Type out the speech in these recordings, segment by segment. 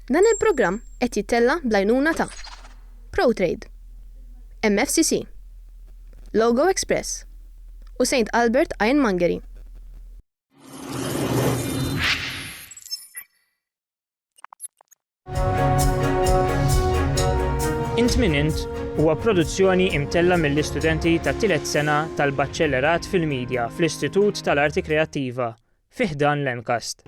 Dan il-programm qed jittella' bl-għajnuna ta', Protrade, MFCC, Logo Express u Saint Albert Ironmongery. Int Min Int huwa produzzjoni imtella mill-istudenti tat-tielet sena tal-Baċellerat fil-Media fl-Istitut tal-Arti Kreattiva fi ħdan l-MCAST.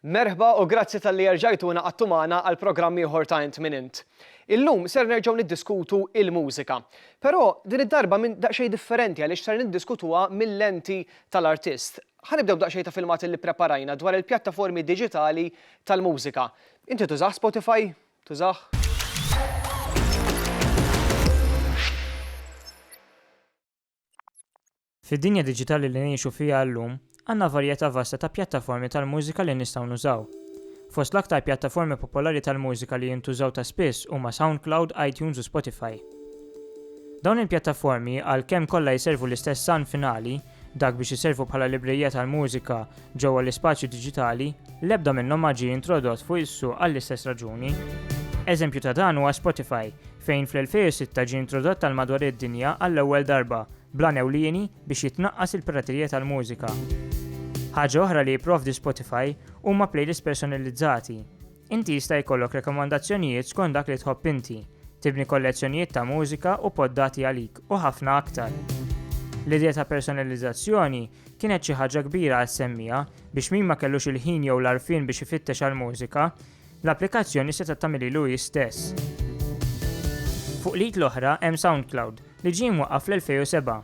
Merħba u grazzi talli erġajtu ingħaqadtu magħna għal programm ieħor ta' Int Min Int. Illum ser nerġgħu niddiskutu il-mużika. Però din id-darba minn daqsxejn differenti għaliex ser niddiskutuha mil-lenti tal-artist. Ħa nibdew b'daqsxejn ta' filmat illi ppreparajna dwar il-pjattaformi diġitali tal-mużika. Inti tużah Spotify? Tużah? Fid-dinja diġitali li ngħixu fiha llum, għandna varjetà vasta ta' pjattaformi tal-mużika li nistgħu nużaw. Fost l-aktar pjattaformi popolari tal-mużika li jintużaw ta' spiss huma SoundCloud, iTunes u Spotify. Dawn il-pjattaformi, għalkemm kollha jservu l-istess għan finali, dak biex iservu bħala librerija tal-mużika ġewwa l-ispazju diġitali, l-ebda minnhom ma ġie introdott fuq is-suq għall-istess raġuni. Eżempju ta' dan huwa Spotify, fejn fl-2006 ġie introdott għal madwar id-dinja għall-ewwel darba, bl-għan ewlieni biex jitnaqqas il-piraterija tal-mużika. Ħaġa oħra li jipprovdi Spotify huma playlists personalizzati. Inti jista' jkollok rekomandazzjonijiet skont dak li tħobb inti, tibni kollezzjonijiet ta' mużika u poddati għalik, u ħafna aktar. L-idea ta' personalizzazzjoni kienet xi ħaġa kbira għas-semmiegħa biex min ma kellux il-ħin jew l-għarfien biex ifittex għall-mużika, L-applikazzjoni setgħet tagħmililu hi stess. Fuq l-id l-oħra hemm SoundCloud, li ġie mwaqqaf fl-2007.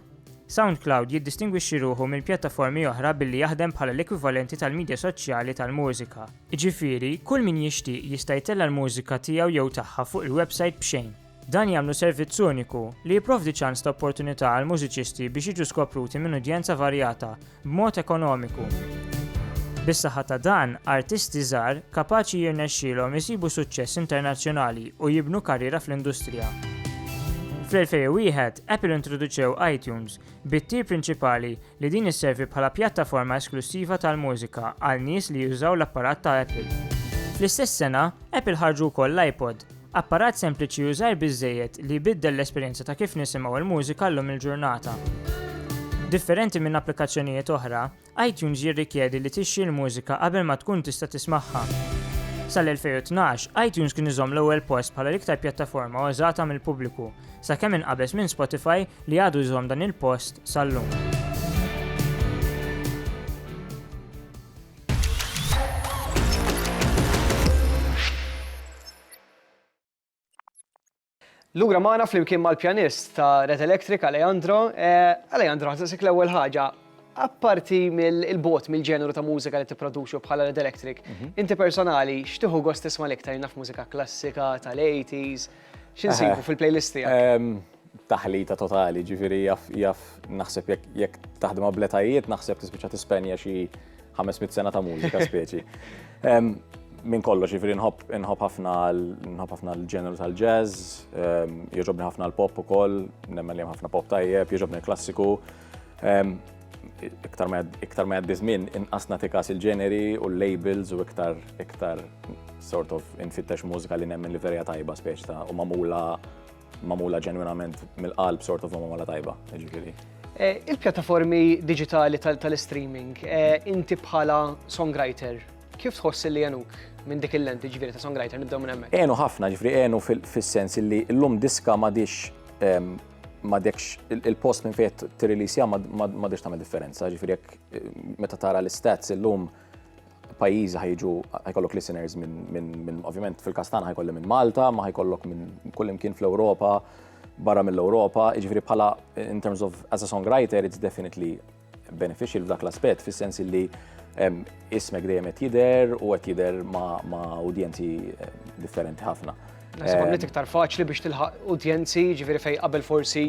SoundCloud jiddistingwixxi ruħu minn pjattaformi oħra billi jaħdem bħala l-ekwivalenti tal-midja soċjali tal-mużika. Jiġifieri, kull min jixtieq jista' jtella' l-mużika tiegħu jew tagħha fuq il-websajt b'xejn. Dan jagħmlu servizz uniku, li jipprovdi ċans ta' opportunità għall-mużiċisti biex jiġu skopruti minn udjenza varjata, b'mod ekonomiku. Bis-saħħa ta' dan, artisti żgħar, kapaċi jirnexxielhom isibu suċċess internazzjonali u jibnu karriera fl-industrija. Fl-2001, Apple introduċew iTunes, bit-tir prinċipali li din isservi bħala pjattaforma esklussiva tal-mużika għal nies li jużaw l-apparat ta' Apple. Fl-istess sena, Apple ħarġu wkoll l-iPod, Apparat sempliċi u żgħir biżżejjed li jbiddel l-esperjenza ta' kif nisimgħu l-mużika llum il-ġurnata. Differenti minn applikazzjonijiet oħra, iTunes jirrikjedi li tixtri l-mużika qabel ma tkun tista' tismagħha. Sal-2012, iTunes kien iżomm l-ewwel post bħala l-iktar pjattaforma użata mill-pubbliku, sakemm inqabeż minn Spotify li għadu jżomm dan il-post sal-lum. Lura magħna flimkien mal-pjanist ta' Red Electric Alejandro. Eh, Alejandro, ħasisik l-ewwel ħaġa, apparti mill-bot mill-ġeneru ta' mużika li tipproduċu bħala Red Electric, mhm. inti personali x'tieħu gost tisma' l-iktar naf mużika klassika tal-80s, x'insibu eh, fil-playlist tiegħek? Ehm, taħlita totali, ġifiri jaf, jaf, naħseb jekk jek taħdem abletajiet, naħseb tispiċa tispenja xi 500 sena ta' mużika speċi. Min kollox, ġifiri nħob ħafna nħob ħafna l-ġeneru tal-jazz, jogħġobni ħafna l-pop ukoll, nemmen li ħafna pop tajjeb, jogħġobni l-klassiku. Iktar ma jgħaddi żmien inqas natikas il-ġeneri u l-labels u iktar iktar sort of infittex mużika li nemmen li verja tajba speċi ta' u mamula magħmula ġenwinament mill-qalb sort of magħmula tajba, jiġifieri. Eh, il-pjattaformi digitali tal-streaming, eh, inti bħala songwriter, kif tħoss li jenuk minn dik il-lenti ġviri ta' songwriter nibdew minn hemmhekk? Enu ħafna ġviri, enu fis-sens li llum diska m'għadix ma dekx il-post minn fejn tirrilisja ma dekx tagħmel differenza, ġifieri jekk eh, meta tara l-istats illum lum pajjiżi ħajġu ħajkollok listeners minn ovvjament fil-każ tagħna ħajkolli minn Malta, ma ħajkollok minn kull imkien fl-Ewropa, barra mill-Ewropa, jiġifieri bħala in terms of as a songwriter it's definitely beneficial f'dak l-aspett fis-sens li ismek dejjem qed jidher u qed jidher ma' udjenzi eh, differenti ħafna. Nasib għamlet iktar faċli biex tilħaq udjenzi, ġifieri fejn qabel forsi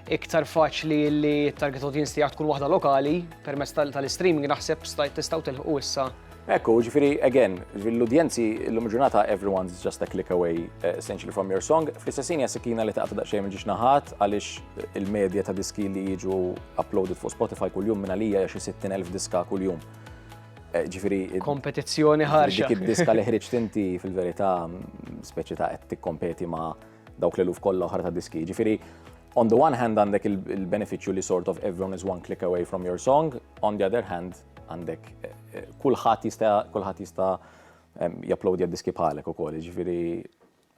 iktar faċli li t-target audience tiegħek tkun waħda lokali permezz tal-streaming naħseb tistgħu tilħu issa. Ekku, ġifiri, again, l-udjenzi l-lum ġurnata everyone's just a click away eh, essentially from your song. Fl-istessin jasikina li taqta daqxej minn ġiġ naħat għalix eh, il-medja ta' diski li jiġu uploaded fuq Spotify kull-jum minna lija jaxi 60.000 diska kull-jum. Eh, ġifiri. Kompetizzjoni ħarxa. Dik id-diska li ħriġt inti fil-verita speċi ta' tikkompeti ma' dawk l-eluf kollha oħra ta' diski. Ġifieri on the one hand għandek il-beneficju li sort of everyone is one click away from your song, on the other hand għandek eh, eh, kulħadd jista' kulħadd jista' japplodi għad-diski bħalek ukoll, ġifieri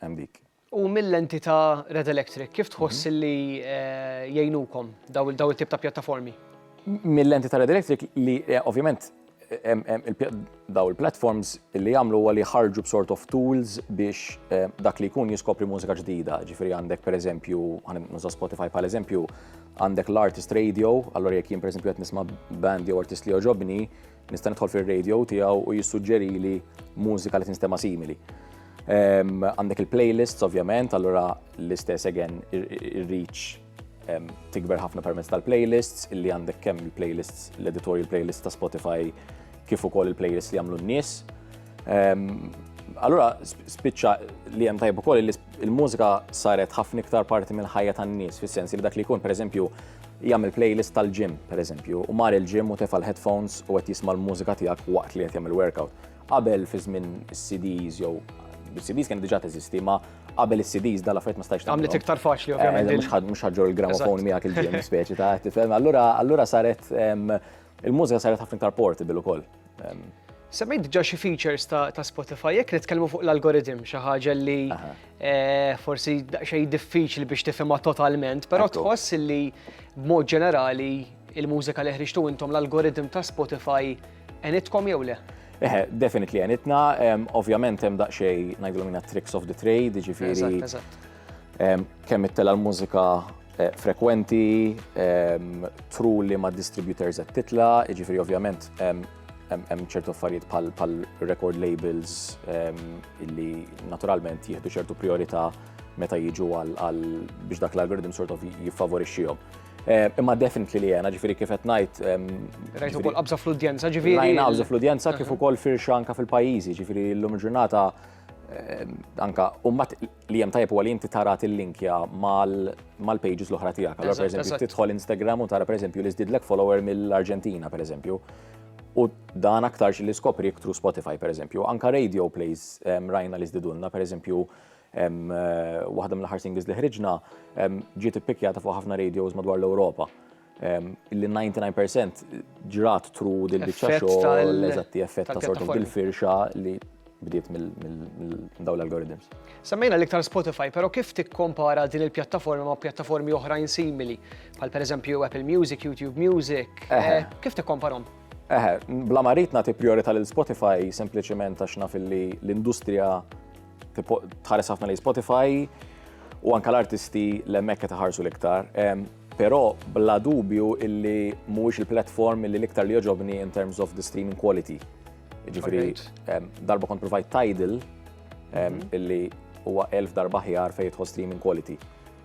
hemm dik. U mill-entità Red Electric, kif tħoss mhm. li eh, jgħinukom daw il-tip ta' pjattaformi? Mill-entità Red Electric li ovvjament Daw il-platforms li jagħmlu huwa li jħarġu b'sort of tools biex eh, dak li jkun jiskopri mużika ġdida. Ġifieri għandek pereżempju, nuża Spotify bħal eżempju, għandek l-artist radio, allora jekk jien pereżempju qed nisma' band jew artist li joġobni, nista' nidħol fir-radio tiegħu u jissuġġeri li mużika li tinstema' simili. Għandek il-playlists ovvjament, allura l-istess again ir-reach tikber ħafna permezz tal-playlists, illi għandek kemm il-playlists, l-editorial playlists ta' Spotify, kif ukoll il-playlists li għamlu n-nies. Allura, spiċċa li hemm tajb ukoll il-mużika saret ħafna iktar parti mill-ħajja tan-nies, fis-sens li dak li jkun, pereżempju, jagħmel playlist tal-gym, pereżempju, u mar il-gym u tefa' l-headphones u qed jisma' l-mużika tiegħek waqt li qed jagħmel workout. Qabel fi żmien is-CDs jew bis-CDs kienet diġà teżisti, ma qabel is-CDs dal affarijiet ma stajx tagħmel. Għamlet iktar faċli ovvjament. Eh, mhux ħaġġor il-gramofon miegħek il-ġiem speċi ta' tifhem. Allura allura saret il-mużika saret ħafna iktar portable ukoll. Semmejt diġà xi features ta' Spotify jekk nitkellmu fuq l-algoritm xi ħaġa li eh, forsi xejn diffiċli biex tifhimha totalment, però tħoss li b'mod ġenerali il-mużika li ħriġtu intom l-algoritm ta' Spotify Enitkom jew le? Eħe, definitely enitna, ovvjament hemm daqsxej ngħidlu minna tricks of the trade, ġifieri. Kemm it-tela l-mużika eh, frekwenti, tru li ma' distributors qed titla, ġifieri ovvjament hemm ċertu affarijiet bħal record labels illi naturalment jieħdu ċertu priorità meta jiġu għal biex dak l-algoritm sort of jiffavorixxihom. Eh, imma definitely li jena, ġifiri kif qed ngħid. Rajt ukoll qabża fl-udjenza, ġifiri. Rajna qabża fl-udjenza kif ukoll firxa anka fil-pajjiżi, ġifiri l-lum ġurnata anka umbat li jem tajb u għalin titarat il-linkja mal-pages l-oħra tijak. Allora, per eżempju, titħol Instagram u tara, per eżempju, li zdidlek follower mill-Arġentina, per eżempju. U dan aktarx li skopri iktru Spotify, per eżempju. Anka radio plays rajna li zdidunna, per eżempju, Waħda mill-aħħar singles li ħriġna ġiet ippikkjata fuq ħafna radios madwar l-Ewropa. Illi 99% ġrat tru dil-biċċa xogħol eżatti effett ta' sort of dil-firxa li bdiet mill-dawl algorithms. Semmejna l-iktar Spotify, pero kif tikkompara din il-pjattaforma ma' pjattaformi oħrajn simili, bħal per eżempju Apple Music, YouTube Music, kif tikkomparom? Eħe, bla maritna ti priorita l-Spotify sempliciment għax naf li l-industrija tħares ħafna li Spotify u anka l-artisti l-emmek qed ħarsu l-iktar. Però bla dubju illi mhuwiex il-platform illi l-iktar li joġobni in terms of the streaming quality. Ġifiri, darba kont provajt Tidal mhm. illi huwa elf darba ħjar fejn tħoss streaming quality.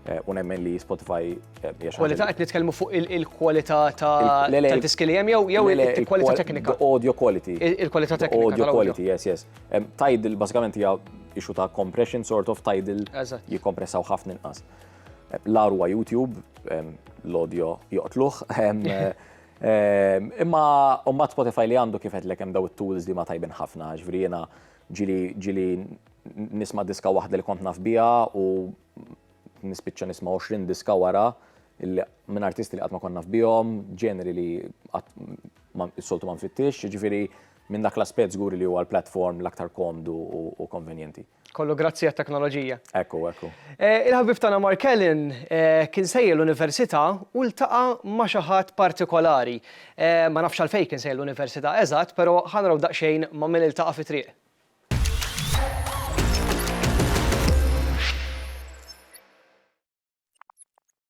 Eh, u nemmen li Spotify eh, jaxa. Kwalità qed nitkellmu fuq il-kwalità ta' diski li hemm jew jew il-kwalità teknika. Audio quality. Il-kwalità teknika. Audio quality, yes, yes. Tidal basikament hija issue ta' compression sort of tidal jikkompressaw ħafna inqas. L-arwa YouTube, l-audio joqtluħ. Imma umma Spotify li għandu kifet l hemm daw it-tools li ma tajbin ħafna, ġvri jena ġili nisma diska waħda li kont naf bija u nispiċċa nisma 20 diska wara minn artisti li qatt ma konna f'bihom, ġeneri li s-soltu ma nfittix, ġifiri Minn dak l-aspett żgur li huwa l-platform l-aktar komdu u konvenjenti. Kollu grazzi għat-teknoloġija. Ekku, ekku. Il-ħabib tagħna Mark Allen kien sejjer l-università u ltaqa' ma' xi ħadd partikolari. Ma nafx għalfejn kien sejjer l-università eżatt, però ħa naraw daqsxejn ma' min iltaqa' fit-triq.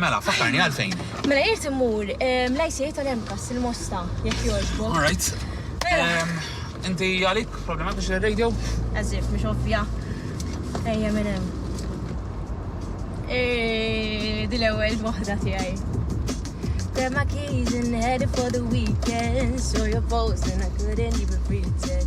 Mela, fakkarni għalfejn. Mela jirt immur l-ICA tal-MCAS il-Mosta, jekk jogħġbu. All right. Inti għalik problema biex il-radio? Eżif, mhux ovvja. Ejja minn hemm. Eh, Dil ewwel waħda tiegħi. Grabbed my keys and headed for the weekend. Saw your post and I couldn't even pretend.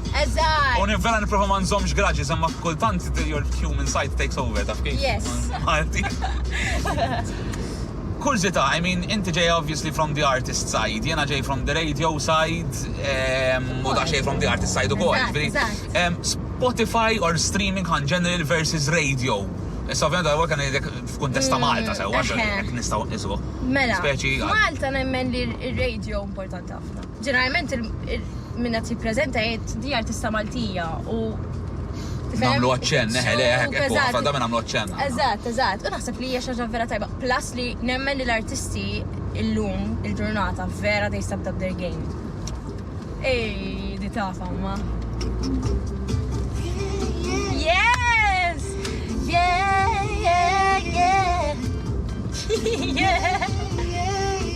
Eżatt! U ni vera nipprova ma nżommx grudges imma kultant your human side takes over, taf kif? Yes. Malti. Kurżità, I mean, inti ġejja obviously from the artist side, jiena ġej from the radio side, ehm, u daqsxejn from the artist side ukoll. Eżatt, jiġifieri, eżatt. ehm, Spotify or streaming on general versus radio. Issa ovvjament għal kan ngħidlek f'kuntest ta' Malta sewwa, eħe. jekk nistgħu nqisuh. Mela, Speċi għal. f'Malta nemmen li r-radio importanti ħafna. Ġeneralment min qed jippreżenta jgħid di artista Maltija u Nagħmlu aċċenn, eħe, le, eħe, ekku, ħafna drabi nagħmlu aċċenn. Eżatt, eżatt. U naħseb li hija xi ħaġa vera tajba. Plus li nemmen li l-artisti illum il-ġurnata vera they stepped up their game. Ej, di tafa, ma. Yes! Yeah, yeah, yeah! yeah!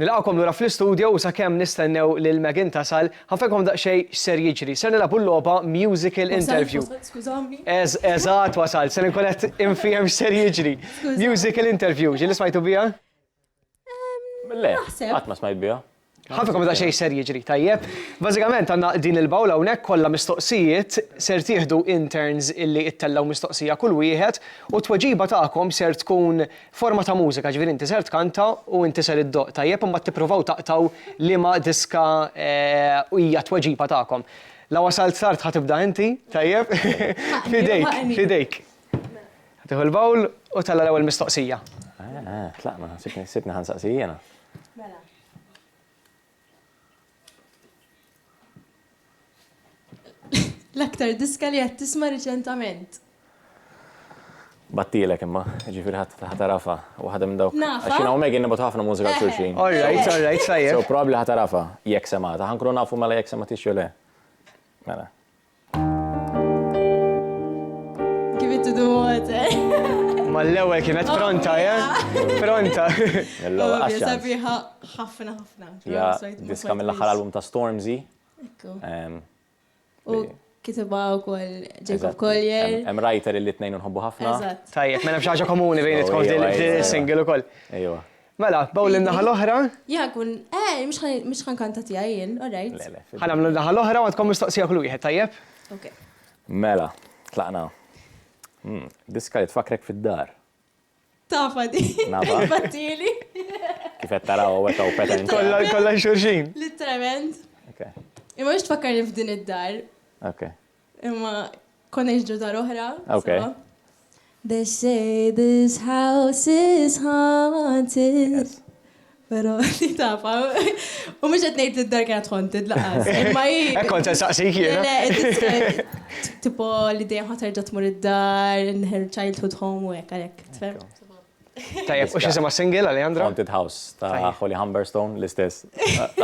Nilqakom lura fl-istudio u sakemm nistennew lil Megan tasal, ħanfekom daqsxej x'ser jiġri. Ser nilagħbu l-logħba musical interview. Eżatt wasal, ser nkun qed infiehem x'ser jiġri. Musical interview, ġili smajtu biha? Le, qatt ma smajt biha. Ħafna komda xej ser jiġri, tajjeb. Bażikament għandna din il-bawla hawnhekk kollha mistoqsijiet, ser tieħdu in turns illi ittellgħu mistoqsija kull wieħed u t-tweġiba tagħkom ser tkun forma ta' mużika, ġifieri inti ser tkanta u inti ser iddoqq, tajjeb, u mbagħad tippruvaw taqtgħu liema diska hija t-tweġiba tagħkom. La wasalt tard ħa tibda inti, tajjeb? F'idejk, f'idejk. Tieħu l-bowl u tella' l-ewwel mistoqsija. Eh, eh, tlaqna, sibni, sibni ħan saqsi jiena. Mela. L-aktar diska li qed tisma' riċentament. Battilek imma, ġifir ħatarafa, u ħadem minn dawk. Nafa. Għaxin għaw Megan nibotu ħafna mużika eh. xurxin. All right, all right, sajjer. So probabli ħatarafa, jek semata, ħankru nafu mela jek semata xjole. Mela. Give it to the water. Ma l-ewwel kienet oh, pronta, ja? Eh? Pronta. L-ewwel għaxxa. Sabiħa ħafna ħafna. Ja, diska mill-aħħar album ta' Stormzy. Ekku. U kitibha wkoll Jacob Collier. Hemm writer li tnejn nħobbu ħafna. Tajjeb, mela xi ħaġa komuni bejn it-tkom single ukoll. Ejwa. Mela, bawl in-naħa l-oħra. Ja, kun, eh, mhux ħan- mhux ħan kanta tiegħi jien, all right. Le, le, fid- Ħanamlu n-naħa l-oħra u għandkom mistoqsija kull wieħed, tajjeb? Okay. Mela, tlaqna. Hmm, Diska li tfakrek fid-dar. Tafa di. Naba. Battili. Kif qed taraw hawnhekk hawn pattern. Kollha kollha xurxin. Literalment. Okay. Imma mhux tfakkarni f'din id-dar. Okay. Imma konna nġġu dar oħra. Okay. So. They say this house is haunted. Pero li tafa. U mux għet nejt id-dar kienet haunted laqas. Ma i. Ekkon ta' saqsi kiena. Le, tipo li dejjem ħaterġa tmur id-dar, in her childhood home u hekk għalhekk. Tajjeb, u x'isima s-single, Alejandra? Haunted House ta' Holly Humberstone, l-istess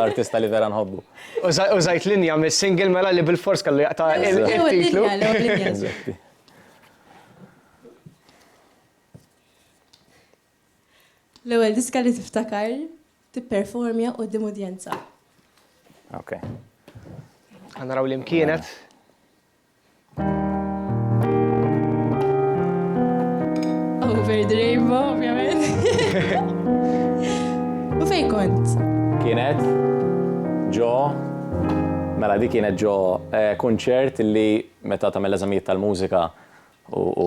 artista li vera nħobbu. U żajt linja mis-single mela li bil-fors kellu jaqta' il-titlu. L-ewwel diska li tiftakar tipperformja quddiem udjenza. Okej. Ħa naraw li mkienet. Over the rainbow, ovvjament. U fej kont? Kienet ġo Mela dik kienet ġo eh, kunċert li meta tagħmel eżamijiet tal-mużika u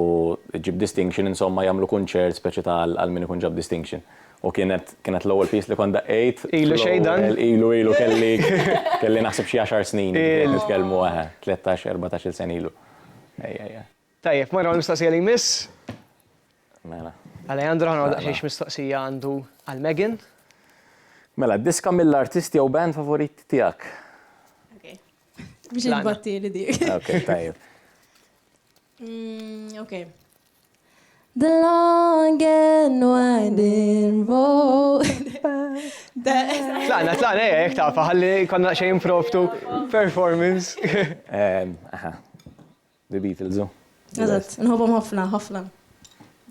ġib distinction insomma jagħmlu kunċert speċi tal għal min ikun ġab distinction. U kienet, kienet l-ewwel piece li kont daqqejt. Ilu xejn dan? Ilu, ilu, kelli, kelli naħseb xi għaxar snin nitkellmu, eħe, tlettax, erbatax-il sena ilu. Ejja, ejja. Tajjeb, morru għall-mistoqsija li jmiss. Mela. Alejandro, ħa nagħmlu daqsxejn x'mistoqsija għandu għal Megan. Mela, diska mill-artist jew band favorit tiegħek? Okej. Biex inbattieli dik. Okej, tajjeb. Okej. The long and winding road. Tlaqna, tlaqna, eh, jek ta' faħalli konna xej improftu performance. Aha, The Beatles. Oh. Eżatt, nħobom ħafna, ħafna.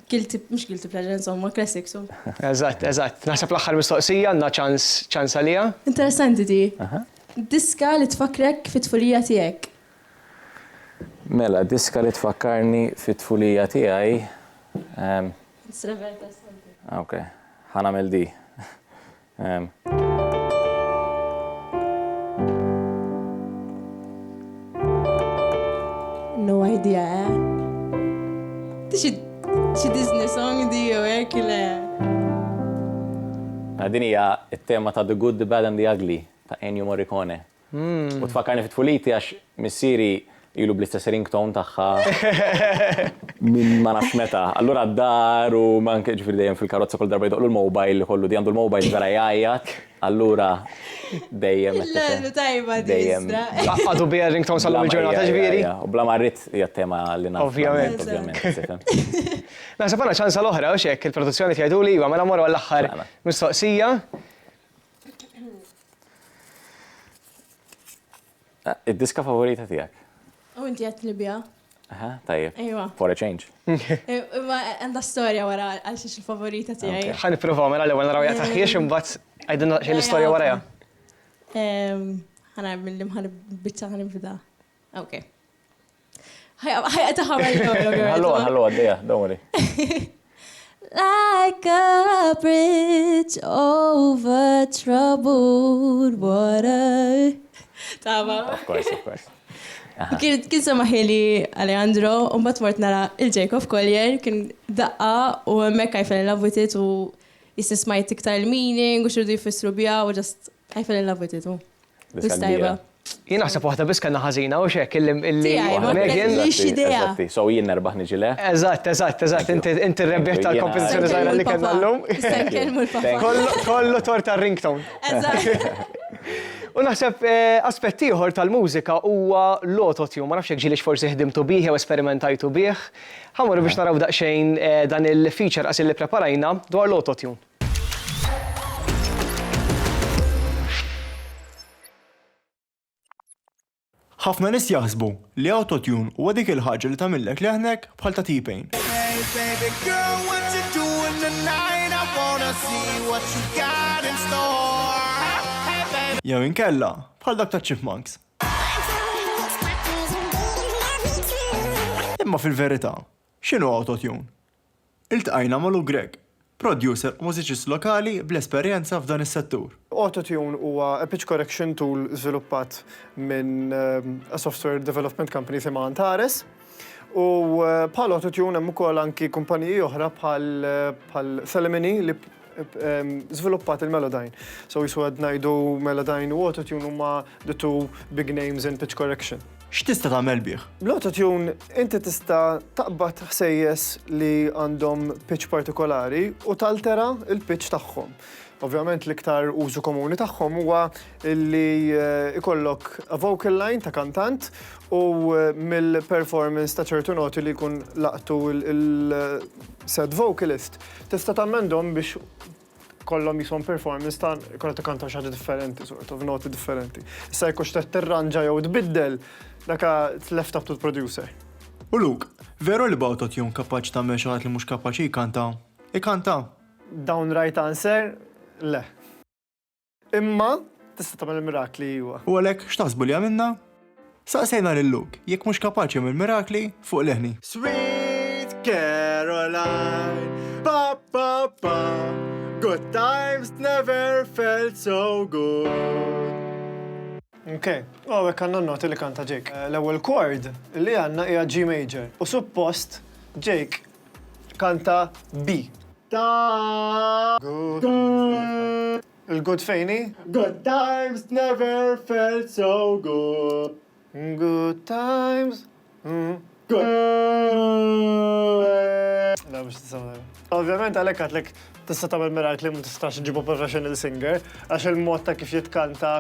Guilty, mux guilty pleasure, insomma, classic, so. Eżatt, eżatt. Naħseb l-axħar mistoqsija, għanna ċans, ċans għalija. Interessanti ti. Diska li tfakrek fit-tfulija tijek. Mela, diska li tfakkarni fit-tfulija tiegħi. Ehm. Srever ta' Santi. Ok, ħa nagħmel di. Ehm. No idea, eh? Xi xi Disney song di jew hekk le. Din hija t-tema ta' The Good, The Bad and The Ugly ta' Ennio Morricone. U tfakkarni fi tfuliti għax missieri ilu bl-istess ringtone tagħha minn ma nafx meta. Allura d-dar u anke ġifieri dejjem fil-karozza kull darba jdoqqlu l-mobile ikollu di għandu l-mobile vera jgħajjat, allura dejjem qed tgħid. Le, tajba di iżda. Għadu biha r-ringtone sal-lum il-ġurnata ġifieri? Bla ma rrid hija t-tema li nagħmel. Ovvjament. Ovvjament, tifhem. Naħseb għandna ċansa l-oħra, hux hekk? Il-produzzjoni qed jgħiduli iva mela mmorru għall-aħħar mistoqsija. Id-diska favorita tiegħek? U inti qed Libja. Aha, tajjeb. Ejwa. For a change. Ma għandha storja wara għal xiex il-favorita tiegħi. Ħa nipprovaw mela l-ewwel naraw jaqta' ħiex imbagħad għidilna xejn l-istorja warajha. Ħana mill-imħan biċċa ħanibda. Okay. Ħajqa ta' ħamar Ħallu ħallu għaddejja, don't worry. Like a bridge over troubled water. Tama. Of course, of course. Kien kien sema ħili Alejandro, u mbagħad mort nara il-Jacob Collier, kien daqqa u hemmhekk għajfen il-lavutit u jisnismajt iktar il-meaning u xirdu jfissru biha u ġast I fell in love with it, u. Diska kbira. Jien naħseb waħda biss kellna ħażina u xek illi illi Megan. Eżatti, so jien nerbaħ niġi le. Eżatt, eżatt, eżatt, inti rebbieħ tal-kompożizzjoni żgħira li kellna llum. Kollu tor tar-ringtone. Eżatt. U naħseb aspett ieħor tal-mużika huwa l-autotune, ma nafx jekk ġielix forsi ħdimtu bih jew esperimentajtu bih. Ħa morru biex naraw daqsxejn dan il-feature qas li preparajna dwar l-autotune. Ħafna nies jaħsbu li Auto-Tune huwa dik il-ħaġa li tagħmillek leħnek bħal ta' T-Pain. Jew inkella bħal dak ta' Chipmunks. Imma fil-verità, x'inhu Auto-Tune? Iltqajna ma' Lou Grech, producer u mużiċist lokali bl-esperjenza f'dan is-settur. Auto-Tune huwa pitch correction tool żviluppat minn a software development company jisimha Antares. U bħal Auto-Tune hemm ukoll anki kumpaniji oħra bħal Thelemony li żviluppat il-Melodyne. So jiswa qed ngħidu Melodyne u Autotune huma the two big names in pitch correction. X'tista' tagħmel bih? Bl-Autotune inti tista' taqbad ħsejjes li għandhom pitch partikolari u taltera l-pitch tagħhom. Ovvjament l-iktar użu komuni tagħhom huwa li eh, ikollok a vocal line ta' kantant u eh, mill-performance ta' ċertu noti li jkun laqtu il-set eh, vocalist Tista' tammendhom biex kollhom jishom performance ta' kollha tikkantaw xi ħaġa differenti sort of, noti differenti. Issa jekk hux trid tirranġa jew tbiddel, daka it's left up to the producer. U Luke, veru li b'awtotune kapaċi tagħmel xi ħadd li mhux kapaċi jkanta, ikanta? Downright answer, le. Imma tista' tagħmel il-mirakli iwa. U għalhekk x'taħsbu li għamilna? Saqsejna lil Luke jekk mhux kapaċi jagħmel mirakli fuq leħni. Sweet Caroline, pa pa pa, good times never felt so good. Ok, u għawek għanna noti li kanta Jake. Eh, l-ewel chord li għanna hija G major. U suppost Jake Kanta bi. Ta. Good. Il-good fejn hi? Good times never felt so good. Good times. La mhux tisamel. Ovvjament għalhekk għadlek tista' tagħmel mirakli ma tistax ġibu professional singer għax il-mod ta' kif jitkanta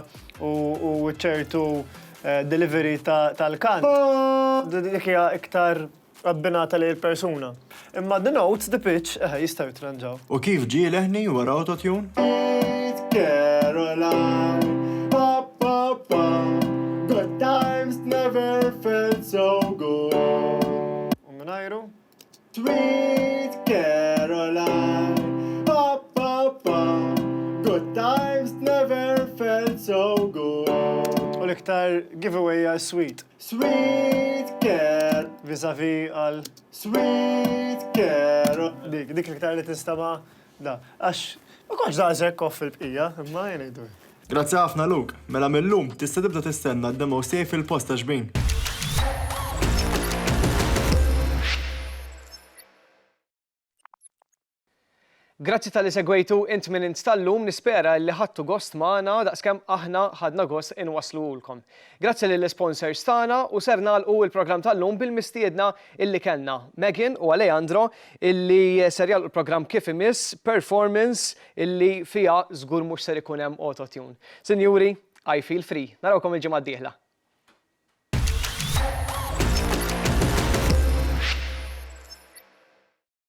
u ċertu eh, delivery tal-kant. Dik hija iktar abbinata lejn il-persuna. Imma d-denotes, the pitch, eħe, jistgħu jittranġaw. U kif ġie leħni wara autotune? U mingħajru? U l-iktar giveaway hija s-sweet. Sweet care. Vizavi għal sweet care. Dik, dik l-iktar li tinstama da. Għax, ma konċ daqsek off il-bqija, imma jenejdu. Grazzi ħafna Luke. Mela mill-lum tista' tibda tistenna d-demos tiegħi fil-post ta' xbin. Grazzi talli segwejtu Int Min Int tal-lum, nispera illi ħadtu gost magħna daqskemm aħna ħadna gost inwassluhulkom. Grazzi lill-isponsors tagħna u ser nagħlqu il-programm tal-lum bil-mistiedna illi kellna, Megan u Aleandro illi ser jagħlqu l-programm kif imiss performance illi fiha żgur mhux ser ikun hemm auto-tune. Sinjuri, I feel free. Narawkom il-ġimgħa d-dieħla.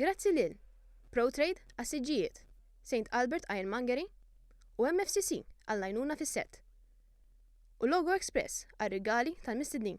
Grazzi lil, Proutrade għas-siġġijiet, Saint Albert Ironmongery u MFCC għall-għajnuna fis-sett, u Logo Express għar-rigali tal-mistednin.